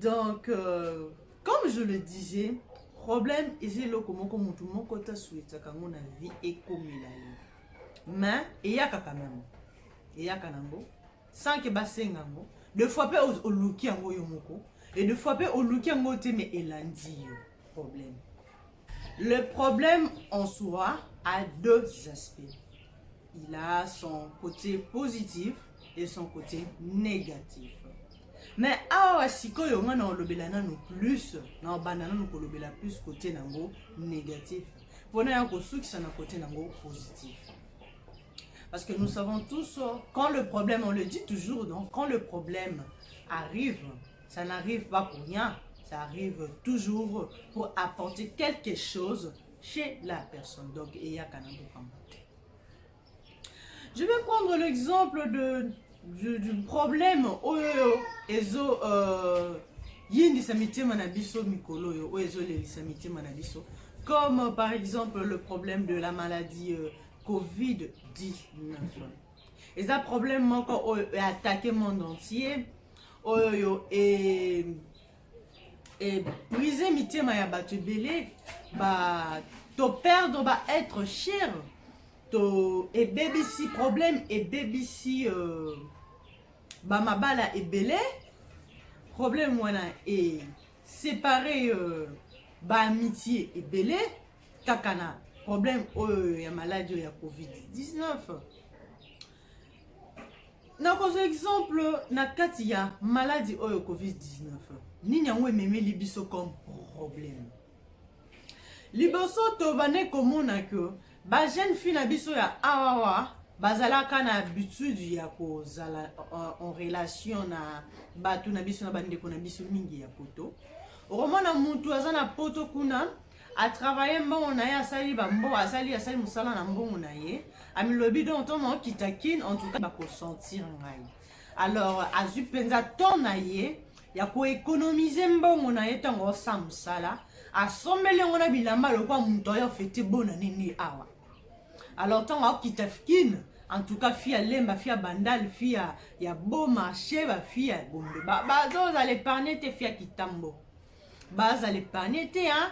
donc euh, comme je le disais problème eza eloko moko motu moko ta souetaka yango na vie ekomela yo mais eyaka quand même eyaka nango sans ke basenga yango de fois mpe oluki yango yo moko e de fois mpe oluki yango te mais elandi yo problème Le problème en soi a deux aspects. Il a son côté positif et son côté négatif. Mais awa sikoyo nga na olobela nanu plus na obanda nanu kolobela plus côté nango négatif mpona ya kosukisa na côté nango positif. Parce que nous savons tous, quand le problème, on le dit toujours, donc quand le problème arrive, ça n'arrive pas pour rien ça arrive toujours pour apporter quelque chose chez la personne donc eyaka na bokambo te je vais prendre l'exemple de du, du problème oyo ezo euh, yindisa mitema na biso mikolo oyo oyo ezolelisa mitema na biso comme par exemple le problème de la maladie euh, covid-19 eza problème moko oyo e attaqué monde entier oyo e, e brise mitema ya bato ebele ba to perdre ba être cher to ebebisi problème ebebisi euh, ba mabala ebele problème wana e séparer euh, ba amitié ebele kaka na problème oyo ya maladi oyo ya covid-19 nakozwa exemple na kati ya maladi oyo covid-19 nini yango ememeli biso comme problème liboso tobande komona ke bajeune fille na biso ya awawa bazalaka na habitude ya kozala euh, en relation na bato na biso na bandeko na biso mingi ya poto okomona motu aza na poto kuna a travaille mbongo na ye asali bambo asali asali mosala na mbongo na ye amilobi donc ntongo okita kin en tout cas bakosentir ngai alors azwi mpenza temps na ye ya koekonomize mbongo na ye ntango osa mosala asombeli yango na bilamba lokola moto ayo fete bona nini awa alors ntango akita kin en tout cas fille ya lemba fille ya bandal fille ya, ya boma sheba fille ya gombe bazozala ba, épargne te fille ya kitambo baza le panier te hein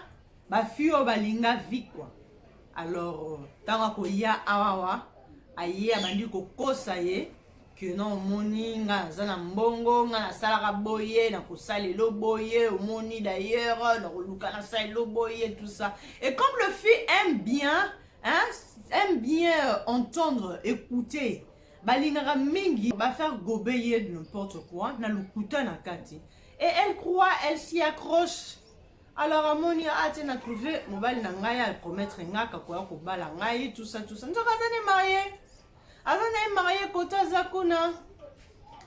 ba fille oyo balinga vie quoi alors ntango akoya awawa aye abandi kokosa ye que non omoni nga naza na mbongo nga nasalaka boye nakosala elo boye omoni d'ailleurs nakoluka nasala elo boye tout ça et comme le fille aime bien hein, aime bien euh, entendre écouter balingaka mingi bafaire gobe ye n'importe quoi na lokuta na kati et elle croit elle s'y accroche alors amoni atie na trouve mobali na ngai apromettre ngai akakoya kobala ngai tusa tusa nzoka aza ne marie aza na ye marie kote aza kuna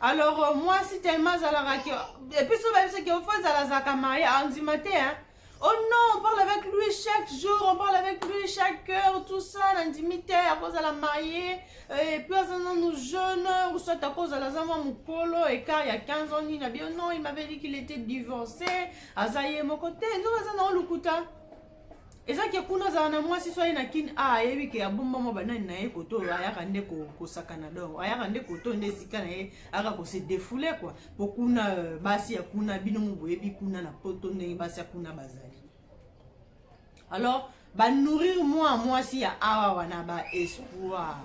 alors euh, mwasi telema azalaka ke episo bayebisaki ofo ezala azalaka marie andima te hein Oh non, on parle avec lui chaque jour, on parle avec lui chaque heure, tout ça, nandimi te, akozala maye, et puis aza nanu jeune, ou soit akozala aza mwa mokolo, écart ya 15 ans nini na bio, non, il m'avait dit qu'il était divorcé, aza ye moko te, nzoka aza na olukuta. eza ke kuna azala na mwasi so aye na kin a ayebi ke abombama banani na ye koto ayaka nde kosakana donc ayaka nde koto nde esika na ye ayaka kose defoule kua po kuna euh, basi ya kuna bino moboyebi kuna na poto ndenge basi ya kuna bazali alors banourrir mwa mwasi ya awa wana baespoir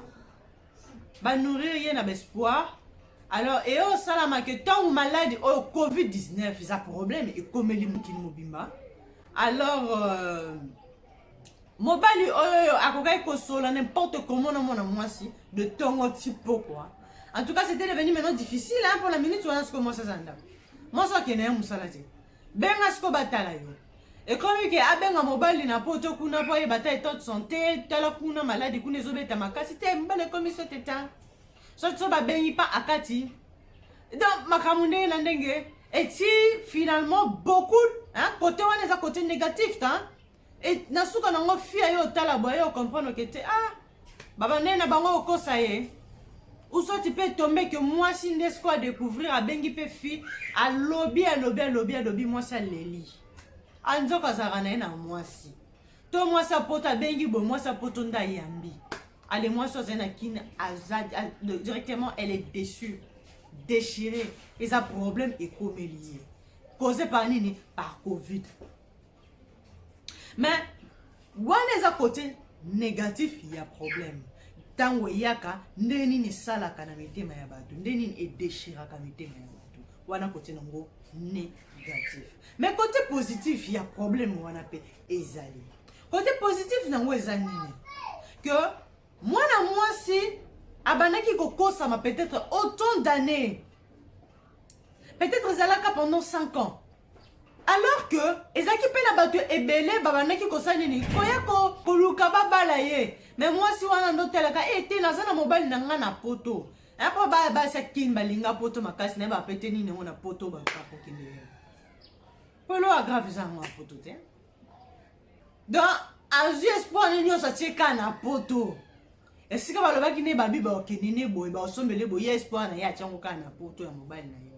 banourrir ye na baespoir alors eye osalamaka ntango maladi oyo covid-19 eza problème ekomeli mokili mobimba alors euh, Mobali oyo akokaki kosolola n'importe comment na mwana mwasi de tongo ti pokwa. En tout cas, c'était devenu maintenant difficile hein, pour la minute wana sikoyo mwasi aza ndako. Mwasi akende ya mosala te. Benga sikoyo batala yo. ekomi ke abenga mobali na poto kuna mpo ayeba ta etat de santé tala kuna maladi kuna ezobeta makasi te mobali ekomi so teta soki so babengi mpa akati donc makambo ndenge na ndenge eti finalement beaucoup hein, kote wana eza kote négatif ta Et na suka na ngo fia yo tala boye yo comprendre que te ah baba nene na bango okosa ye ou soit tu peux tomber que mwasi nde siko a découvrir abengi mpe fille alobi alobi alobi alobi mwasi aleli anzoko azalaka na ye na mwasi to mwasi apoto abengi boye mwasi apoto nde ayambi ale mwasi azali na kine aza directement elle est déçue déchirée eza problème ekomeli ye cause par nini par covid mais wana eza kote négatif ya problème ntango eyaka nde nini esalaka na mitema ya bato nde nini edeshiraka mitema ya bato wana kote nango négatif mais kote positif ya problème wana mpe ezali kote positif nango eza nini que mwana mwasi abandaki kokosama peut-être autant d'années peut-être ezalaka pendant 5 ans alors que ezalaki mpe na bato ebele babandaki kosala nini koya koluka babala ye me mwasi wana ndotalaka e eh, te naza na mobali na ngai na poto mpo basi akini balinga poto makasi naye bapete nini yango na poto bakokende ye polo agrave eza yango na poto te donc azwi espoir ne nyonso atie ka na poto esika balobaki ne babi bakokende ne boye bakosombele boye ya espoir na ye atyango kaka na poto ya mobali na ye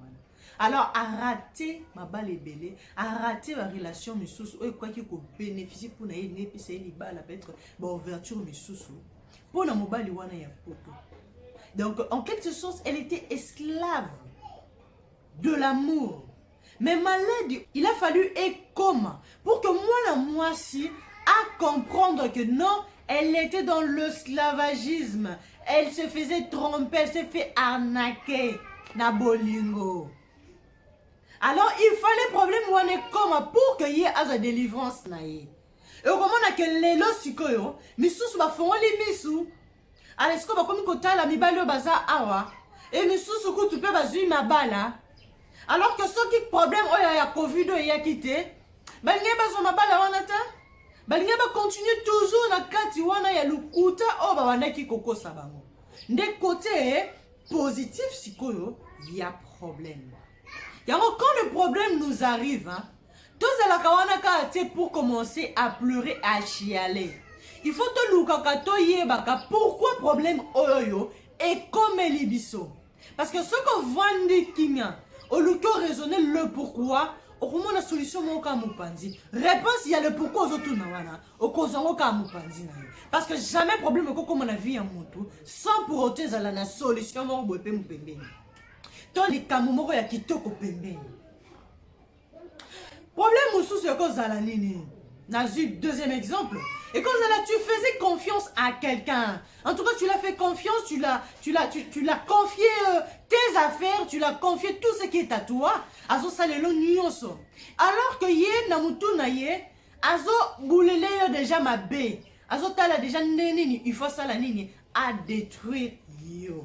alors arate mabala ebele arate barelation misusu oyo ekokaki kobeneficie mpo na ye elingi epesa ye libala peut-être baouverture misusu mpo na mobali wana ya poto donc en quelque sorte elle était esclave de l'amour mais maladi il a fallu ekoma pour que mwana mwasi a comprendre que non elle était dans l'esclavagisme Elle se faisait tromper, elle s'est fait arnaquer na bolingo. Alors il fallait problème wana ekoma pour que ye azwa délivrance na ye. Okomona ke lelo sikoyo misusu bafongoli misu ala sikoyo bakomi kotala mibali oyo baza awa e misusu kutu mpe bazwi mabala alors que soki problème oyo ya covid oyo eyaki te balingi bazwa mabala wana ta balingi bakontinue toujours na kati wana ya lokuta oyo babandaki kokosa bango nde kote positif sikoyo ya problème yango quand le problème nous arrive hein, tozalaka wana kaka te pour commencer à pleurer à chialer il faut tolukaka toyebaka pourquoi problème oyo oyo ekomeli biso Parce que soki ovandi kimia, oluki o raisonner le pourquoi, okomona solution moko kaka mopanzi. Réponse ya le pourquoi ozotuna wana, okozwa yango kaka mopanzi na yo. Parce que jamais problème ekokoma na vie ya motu sans pour autant ezala na solution moko boye mpe mopembeni to likambo moko ya kitoko pembeni. problème mosusu ekozala nini nazwi deuxième exemple ekozala tu faisais confiance à quelqu'un en tout cas tu l'as fait confiance tu l'as tu l'as tu, tu l'as confié euh, tes affaires tu l'as confié tout ce qui est à toi azosala elo nyonso alors que ye na motu na ye azobulele yo déjà mabe azotala déjà nde nini il faut asala nini adétruire yo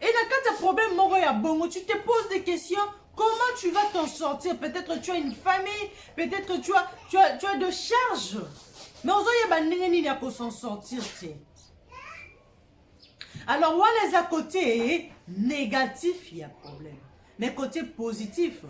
Et na kati ya problème moko ya bongo, tu te poses des questions Comment tu vas t'en sortir Peut-être tu as une famille, peut-être tu as, tu, as, tu as de charges. Mais ozoyeba ndenge nini ako s'en sortir te. Alors wana eza côté négatif ya problème. Mais côté positif,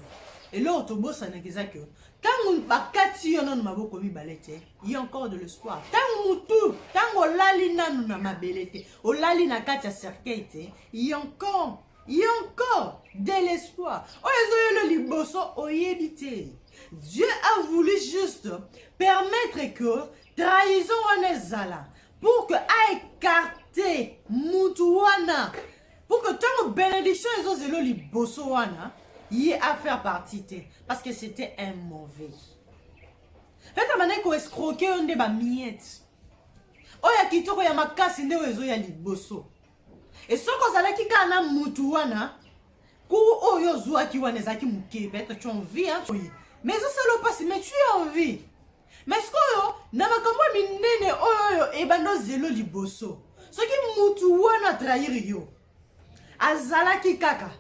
eloko tobosanaka eza que ntango bakati yo nano maboko mibale te ye encore de l'espoir ntango motu ntango olali nano na mabele te olali na kati ya cercueil te ye encore ye encore de l'espoir oyo ezoyelo liboso oyebi te dieu a voulu juste permettre que trahison wana ezala pour que a écarté mutu wana pour que ntango bénédiction ezozelo liboso wana ye a faire partie te parce que c'était un mauvais peut-être bandaki koescroke yo nde bamiete oyo ya kitoko ya makasi nde oyo ezoya liboso e soki ozalaki kaka na mutu wana cour oyo ozwaki wana ezalaki moke peut-être tu envie hein, mais ezosala mpasi mais tu envie Mais sikoyo na makambo ya minene oyo oyo ebanda ozelo liboso soki mutu wana atrahir yo azalaki kaka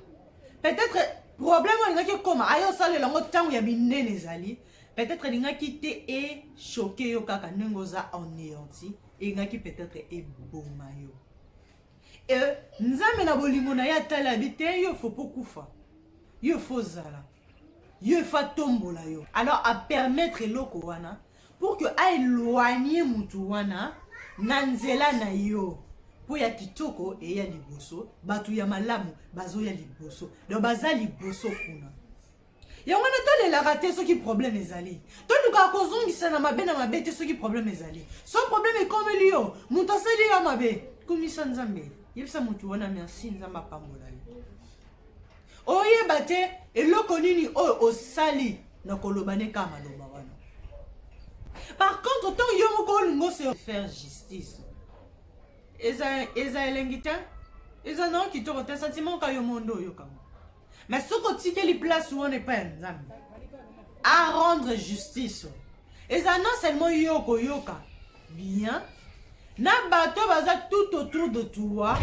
peut-être problème oyo alingaki ekoma aye osalela yango ntango ya minene ezali peut-être elingaki te echoke yo kaka ndenge oza anéanti elingaki peut-être eboma yo e nzambe na bolingo na ye atalabi te yo fo mpo kufa yo fo ozala Yo il faut atombola yo. Alors a permettre eloko wana pour que a eloigner mutu wana na nzela na yo. mpo ya kitoko eya liboso bato ya malamu bazoya liboso donc baza liboso kuna yango wana tolelaka te soki problème ezali tolukaka kozongisa na mabe na mabe te soki problème ezali so problème ekomeli yo moto asali yo mabe kumisa nzambe yebisa moto wana merci nzambe apambola yo oyeba te eloko nini oyo osali na koloba ne kaka maloba wana par contre ntango yo moko olingo se faire justice eza eza elengi te eza nao kitoko te sentiment ka yo mondo oyokango me soki otikeli place wana epai ya nzambe a rendre justice eza non seulement yo okoyoka bien na bato baza tout autour de toi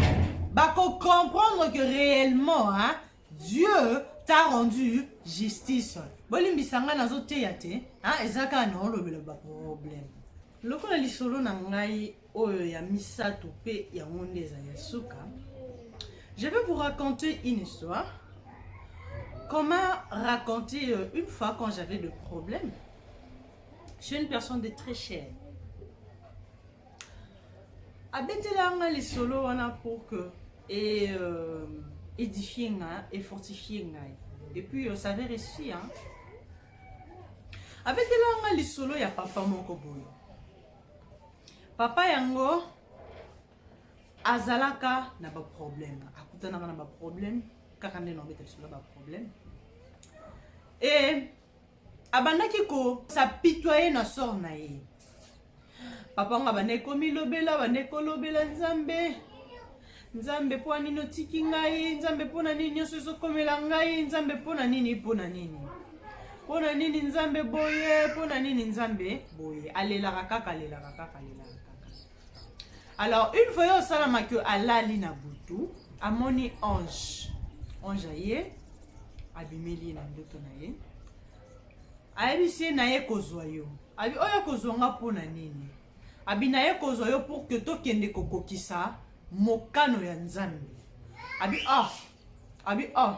bakocomprendre que réellement hein, dieu t'a rendu justice bolimbisa ngai nazoteya te hein, eza kaka naolobela baproblème lokola lisolo na ngai oyo ya misato mpe yango nde ezali ya suka je vais vous raconter une histoire qu'on m'a raconté euh, une fois quand j'avais de problèmes je suis une personne de très cher abetela nga lisolo wana pour que et euh, édifier nga et fortifier ngai et puis euh, ça avait réussi hein abetela nga lisolo ya papa moko boye papa yango azalaka na baproblème akutanaka na baproblème kaka nde na obeta lisolo ya baproblème e abandaki ko s'apitoyer na sort na ye papa yango abandaki komilobela abandaki kolobela nzambe nzambe mpo na nini otiki ngai nzambe mpo na nini nyonso ezokomela ngai nzambe mpo na nini mpo na nini mpo na nini nzambe boye mpo na nini nzambe boye alelaka kaka alelaka kaka alelaka kaka alors une fois yo osalama que alali na butu amoni ange ange aye abimeli ye na ndoto na ye ayebisi ye naye kozwa yo abi oyo kozwa nga mpo na nini abi naye kozwa yo pour que tokende kokokisa mokano ya nzambe abi ah abi oh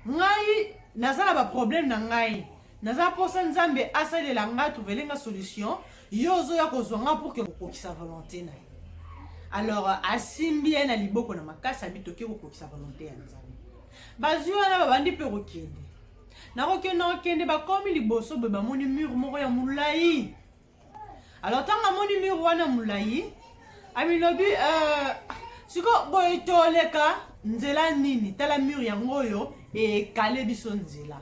ngai naza na baproblème na ngai naza mposa nzambe asalela ngai trouvele nga solution yo ozoya kozwa ngai pour ke kokokisa volonté na ye alors asimbi ye na liboko na makasi abi toke kokokisa volonté ya nzambe bazwi wana babandi mpe kokende nakokende nakokende bakomi liboso boye bamoni mur moko ya molai Alors ntango amoni mur wana molai amilobi euh, sikoyo boye toleka nzela nini tala mur yango oyo ekale biso nzela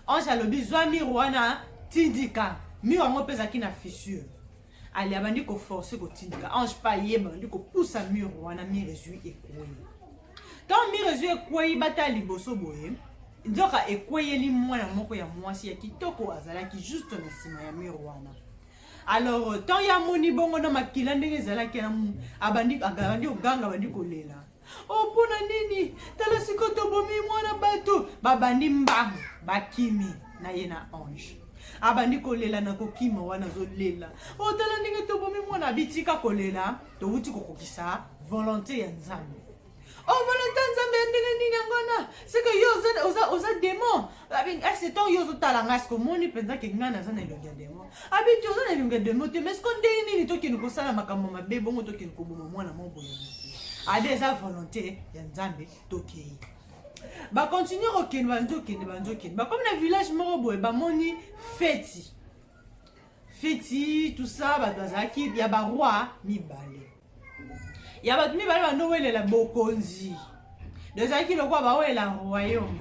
ange alobi zwa mur wana tindika mur yango mpe ezalaki na fissure ali abandi koforce kotindika ange mpe ayeba abandi kopusa mur wana mur ezwi ekwei ntango mire ezwi ekwei batala liboso boye nzoka ekweyeli mwana moko ya mwasi ya kitoko azalaki juste na nsima ya mire wana alors euh, temps ya moni bongo na makila ndenge ezalaki abandi abandi koganga abandi kolela o oh, mpo na nini tala siko tobomi mwana bato babandi mbango bakimi na ye na ange abandi kolela na kokima wana azolela o oh, tala ndenge tobomi mwana abitika kolela towuti kokokisa volonte ya nzambe o oh, volonte ya nzambe ya ndenge nini yango wana seke yo oza demon asetan yo ozotala ngai seke omoni mpenza ke ngai naza na elongi ya demon abiti oza na elongi ya demon te mais siko ndenge nini tokende kosala makambo mabe bongo tokende koboma mwana moko boye ade eza volonte ya nzambe tokei bakontinue kokende banzokende banzokende bakomi na village moko boye bamoni feti feti tout ça bato bazalaki ya baroi mibale ya bato mibale bandowelela bokonzi ezalaki lokola bawelela royaume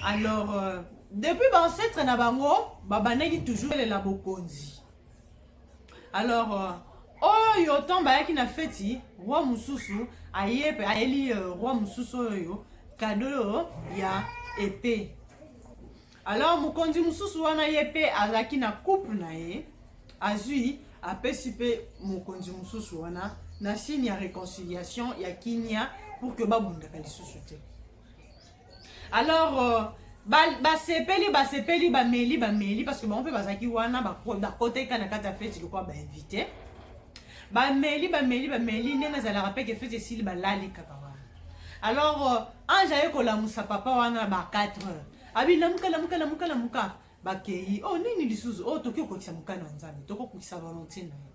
alors euh, depuis baancetre na bango babandaki toujours welela bokonzi alors euh, oyo ntango bayaki na feti roi mosusu aye mpe ayeli euh, roi mosusu oyo kado ya epe Alors mokonzi mosusu wana ye pe azalaki na couple na ye azui apesi pe mokonzi mosusu wana na signe ya reconciliation ya kimia pour que babundaka lisusu te alors euh, basepeli ba basepeli bameli bameli parce que bango mpe bazalaki wana bakoteka na kati ya feti lokola bainvite bameli bameli bameli ndenge ezalaka mpe ke feti esili balali kaka wana alors euh, ange aye kolamusa papa wana ba 4 heures Abi lamuka lamuka lamuka lamuka bakei oh nini lisusu oh toki okokisa mokano ya nzambe tokokokisa volonté na ye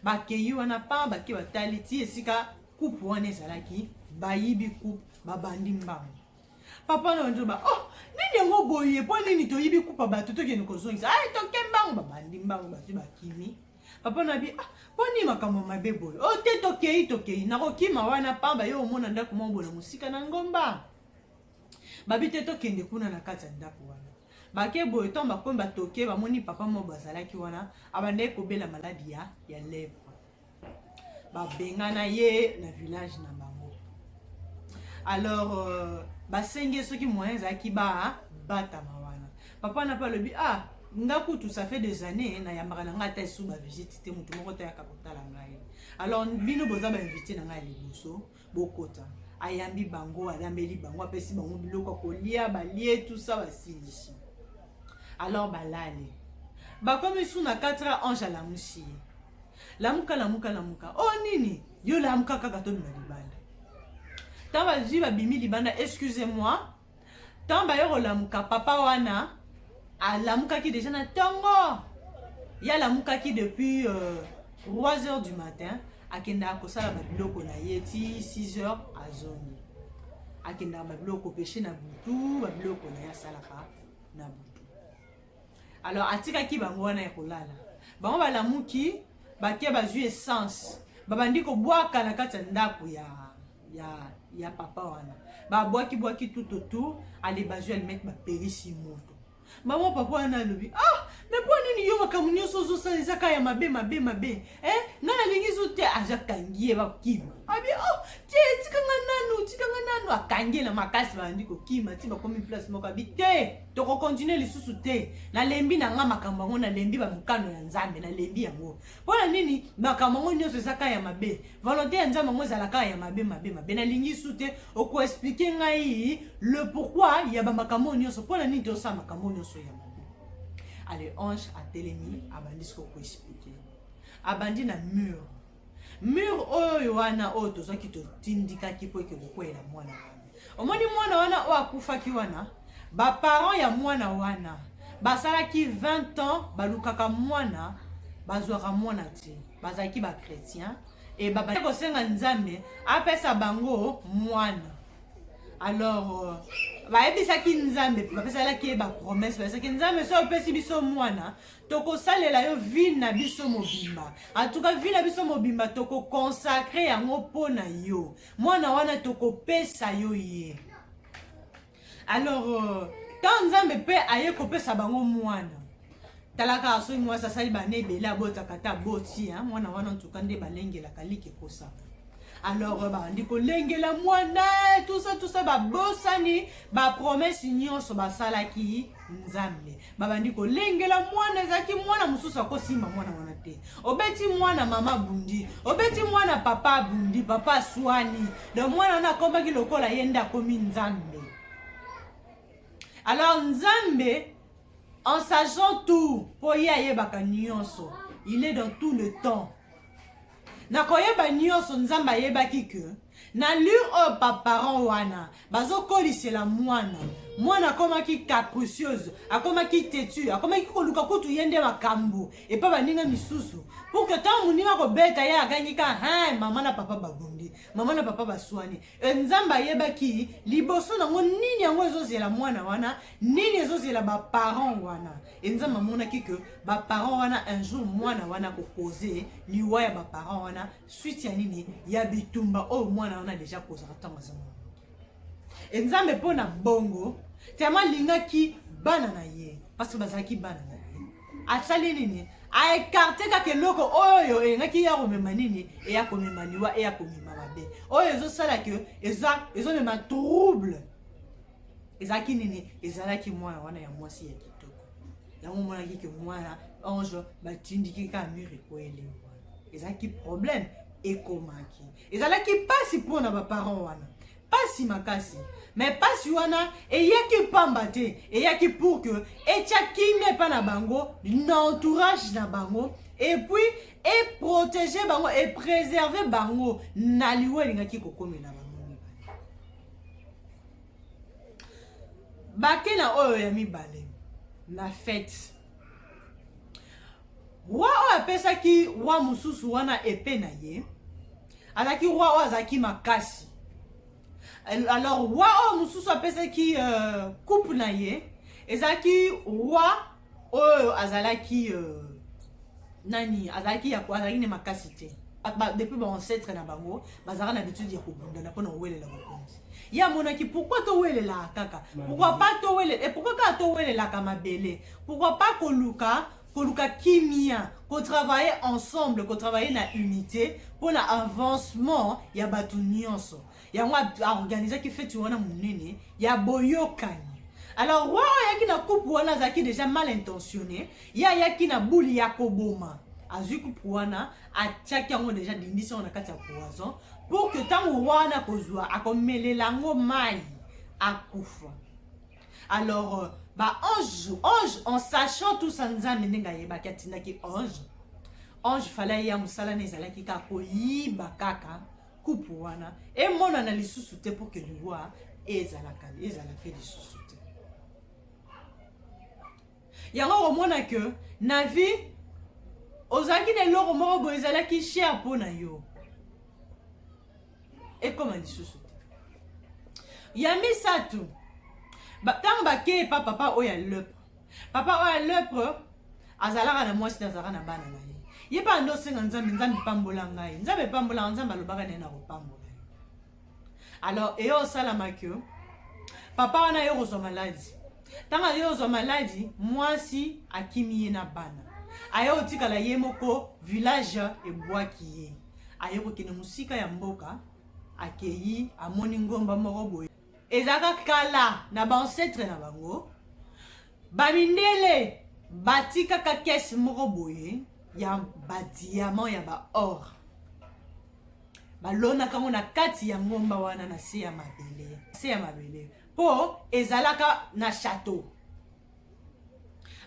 bakei wana pa bake batali ti esika coupe wana ezalaki bayibi coupe babandi mbango papa na banjo ba oh nini yango boye mpo nini toyibi coupe ya bato tokende kozongisa ai toke mbango babandi mbango bato bakimi papa na bi ah mpo nini makambo mabe boye o oh, te tokei tokei nakokima wana pamba yo omona ndako mwa bola mosika na ngomba Babi te tokende kuna na kati ya ndako wana. Bake boye ntango bakomi batoke bamoni papa moko bazalaki wana abandaki kobela maladi ya ya lèpre. Babengana ye na village na bango. Alors euh, basengi soki moyen ezalaki ba batama wana. Papa na pa alobi ah nga kutu ça fait des années nayambaka na ngai ata esu bavisite te moto moko te ayaka kotala ngai alors bino boza bainvite na ngai ya liboso Bokota. Ayambi bango, alambeli bango, apesi bango biloko ya kolia, balie tout ça basilisi. Alors balali. Bakomi su na 4 heures ange alamusi ye. Lamuka lamuka lamuka. Oh nini? Yo lamuka kaka tobima libanda. Ntango bazwi babimi libanda, excusez-moi, Tango baye kolamuka papa wana alamukaki dejà na tongo. Ye alamukaki depuis euh, 3 heures du matin akendaka kosala babiloko na ye ti 6 heures azongi. Akendaka babiloko kopeshe na butu, babiloko na ye asalaka na butu. Alors atikaki bango wana ya kolala. Bango balamuki bake bazwi essence babandi kobwaka na kati ya ndako ya ya ya papa wana babwaki bwaki tout autour ale bazwi alimete bapelisi moto mama papa wana alobi ah me mpo nini yo makambo nyonso ozosala eza kaka ya mabe mabe mabe eh? nga nalingi zo te aza kangi ye bakima abi oh te tika nga nanu tika nga nanu akangi ye na makasi bandi kokima ti bakomi place moko abi te tokokontinue lisusu te nalembi na nga makambo yango nalembi bamokano ya nzambe nalembi yango mpo na nini makambo yango nyonso eza kaka ya mabe volonté ya nzambe yango ezala kaka ya mabe mabe mabe nalingi su te okoexplike ngai le pourquoi ya bamakambo oyo nyonso mpo na nini tosala makambo oyo nyonso ya mabe ale ange atelemi abandi siko koexplike abandi na mur mur oyo wana oyo tozwaki totindikaki mpo eke kokweyela mwana wana Omoni mwana wana oyo akufaki wana, ba parents ya mwana wana basalaki 20 ans balukaka mwana bazwaka mwana te, bazalaki ba chrétien e babandi kosenga Nzambe apesa bango mwana. Alors euh, bayebisaki Nzambe, bapesalaki ye bapromese, bayebisaki Nzambe, soki opesi biso mwana tokosalela yo vie na biso mobimba, atuka vie na biso mobimba tokokonsakre yango mpo na yo. Mwana wana tokopesa yo ye. Alors euh, tant Nzambe mpe aye kopesa bango mwana. Talaka soki mwasi asali bana ebele abotaka ata aboti hein? mwana wana ntuka nde balengelaka like kosa. Alors euh, bandi kolengela mwana tout ça tout ça babosani bapromesse nyonso basalaki Nzambe. babandi kolengela mwana ezalaki mwana mosusu akosimba mwana wana te obeti mwana mama abundi obeti mwana papa abundi papa aswani donc mwana wana akomaki lokola ye nde akomi nzambe alors nzambe en sachant tout mpo ye ayebaka nyonso il est dans tout le temps Na koyeba nioso nzambe ayebaki que na lure oyo ba parents wana bazo kolisela mwana mwana akomaki capricieuse akomaki tetu akomaki koluka kutu ye nde makambu epa baninga misusu pour que ntango moninga akobeta ye agangi ka hein mama na papa babundi mama na papa baswani E nzambe ayebaki liboso nango nini yango ezozela mwana wana nini ezozela ba parents wana e nzambe amonaki que ba parents wana un jour mwana wana akopoze liwa ya ba parents wana suite ya nini ya bitumba oyo mwana wana deja akozaka ntango aza mwana e nzambe mpo na bongo tellement alingaki bana na ye parce que bazalaki bana na ye asali nini aekarte kaka eloko oyo elingaki ya komema nini eya komema liwa eya komema mabe oyo ezosala ke ezomema trouble ezalaki nini ezalaki mwana wana ya mwasi ya kitoko yango omonaki ke mwana ange batindiki kaka mur ekweli ezalaki problème ekomaki ezalaki mpasi mpo na baparent wana pasi makasi mais pasi wana eyaki mpamba te eyaki pour que etya kimia epai na bango na entourage na bango epuis eprotege bango epreserve bango na liwa elingaki kokomela bango bake na oyo ya mibale na fete roi oyo apesaki roi mosusu wana epe na ye azalaki roi oyo azalaki makasi alors roi oyo mosusu apesaki euh, coupe na ye ezalaki roi oyo azalaki euh, nani azalaki ya azalaki ne makasi te depuis ba ancêtre na bango bazalaka na habitude ya kobundana mpo na kowelela mokonzi ye amonaki pourkoi towelelaka kaka pourkoi pa towelela eh, pourkoi kaka towelelaka mabele pourkoi pa koluka koluka kimia kotravaille ensemble kotravaille na unité mpo na avancement ya bato nyonso yango aorganisaki feti wana monene ya boyokani alors roi oyo ayaki na coupe wana azalaki déjà mal intentionné ye ayaki na bule ya koboma azwi coupe wana atiaki yango deja alindisi yango na kati ya poison pour que ntango wana akozwa akomelela yango mai akufa alors euh, ba ange ange en sachant tout ça nzambe ndenge ayebaki atindaki ange ange fala ye ya mosala na ezalaki kaka koyiba kaka kupe wana emonana lisusu te pour que liwa ezalaka ezalaka lisusu te yango okomona que na vie ozalaki na eloko moko boye ezalaki cher mpo na yo ekoma lisusu te ya misato ntango bakei pa papa oyo ya lepre papa oyo ya lepre azalaka na mwasi te azalaka na bana na ye ye mpe ando osenga nzambe nzambe epambola ngai nzambe epambolaka nzambe alobaka naye na kopambola alors eye osalama que papa wana aye kozwa maladi ntango aye kozwa maladi mwasi akimi ye na bana aye kotikala ye moko village ebwaki ye aye kokende mosika ya mboka akeyi amoni ngomba moko boye ezalaka kala na baancetre na bango bamindele batikaka kese moko boye ya badiamant ya baor balonaka yango na kati ya ngomba wana na se ya mabele se ya mabele mpo ezalaka na chateau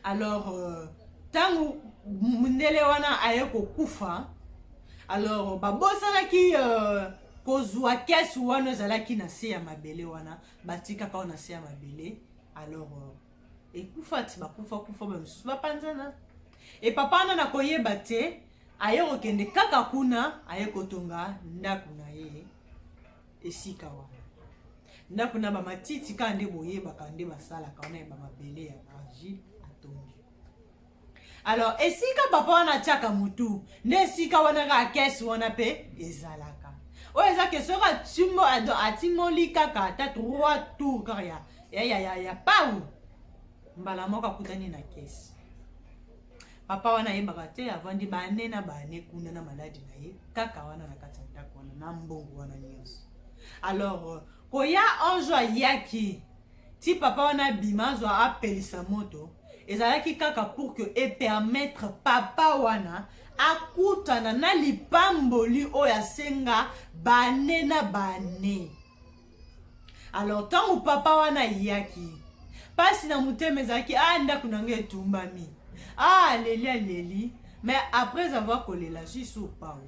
alors ntango euh, mondele wana aye kokufa alors babosanaki euh, kozwa kesi wana ezalaki na se ya mabele wana batikaka wana na se ya mabele alors euh, ekufa ti bakufa kufa bamosusu bapanzana epapa wana nakoyeba te Aye kokende kaka kuna, aye kotonga ndako na ye esika wana. Ndako na bamatiti kaka nde boyebaka nde basalaka wana ya bamabele ya argile atongi. Alors esika papa wana atiaka motu nde esika wana kaka kese wana mpe ezalaka. Oyo eza ke soki atimbo atimoli kaka ata trois tour kaka ya ya ya ya pau mbala moko akutani na kese. Papa wana ayebaka te avandi ba annee na ba annee kuna na maladi na ye kaka wana na kati ya ndako wana na mbongo wana nyonso. Alors euh, koya un jour ayaki ti papa wana abima azwa apelisa moto ezalaki kaka pour que epermettre papa wana akutana na lipamboli oyo asenga bane na bane alors ntango papa wana ayaki mpasi na motema ezalaki a ah, ndako na ngai etumbami a ah, aleli aleli mais après avoir kolela susu opao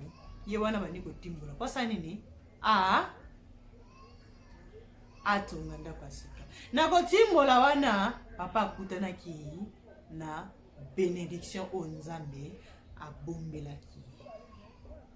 ye wana bandi kotimbola mposa nini a ah, atonga ndako ya sika na kotimbola wana papa akutanaki na benediction oyo nzambe abombelaki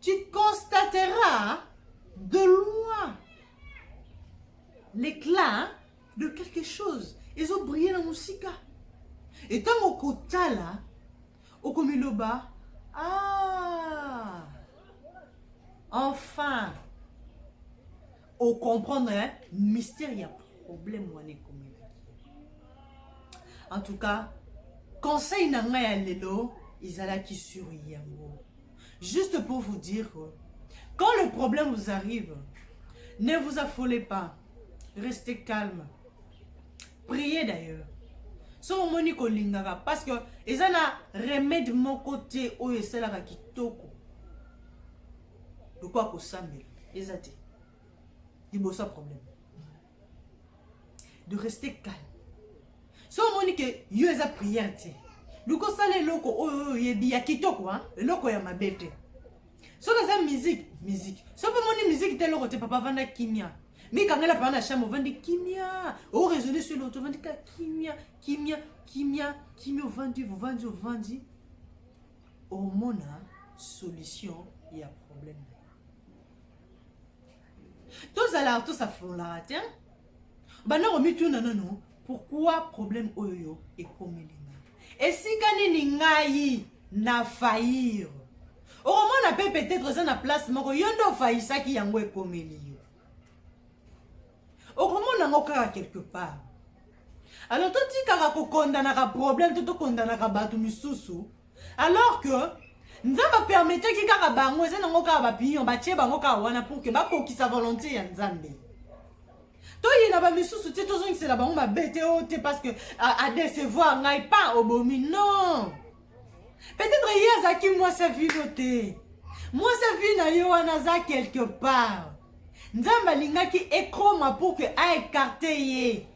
Tu constateras de loin l'éclat de quelque chose ezo briller na mosika e ntango okotala okomiloba ah enfin ocomprendre hein? mystère ya problème wana ekomelaki en tout cas conseil na ngai ya lelo ezalaki sur yango Juste pour vous dire que quand le problème vous arrive, ne vous affolez pas. Restez calme. Priez d'ailleurs. soki omoni kolingaka parce que eza na remède moko te oyo esalaka kitoko lokola kosambela eza te liboso ya problème de rester calme so omoni ke yo eza prière te luka osala eloko oyo oyo oyebi ya kitoko hein? eloko ya mabe te soki eza musique musique soki omoni musique te eloko te papa avanda kimia mikangela papa na chambre ovandi kimia oraisonne sur loto ovandi ka kimia kimia kimia kimia ovandi ovandi ovandi omona solution ya problème tozalaka tosafololaka te banda komituna nano pourkui problème oyo ekomeli nga esika nini ngai na fair okomona mpe peut-être eza na place moko yo nde ofayisaki yango ekomeli yo okomona yango kaka quelque part alors totikaka kokondanaka problème to tokondanaka bato misusu alors que nzambe apermetaki kaka bango eza nango kaka bapinion batie bango kaka wana pour ke bakokisa volonté ya nzambe toyina bamisusu te tozongisela bango mabe te o te parce que adecevoir ngai pa obomi non peut-être ye azalaki mwasi ya vino te mwasi ya vi na ye wana aza quelque part nzambe alingaki ekoma pour ke aekarte ye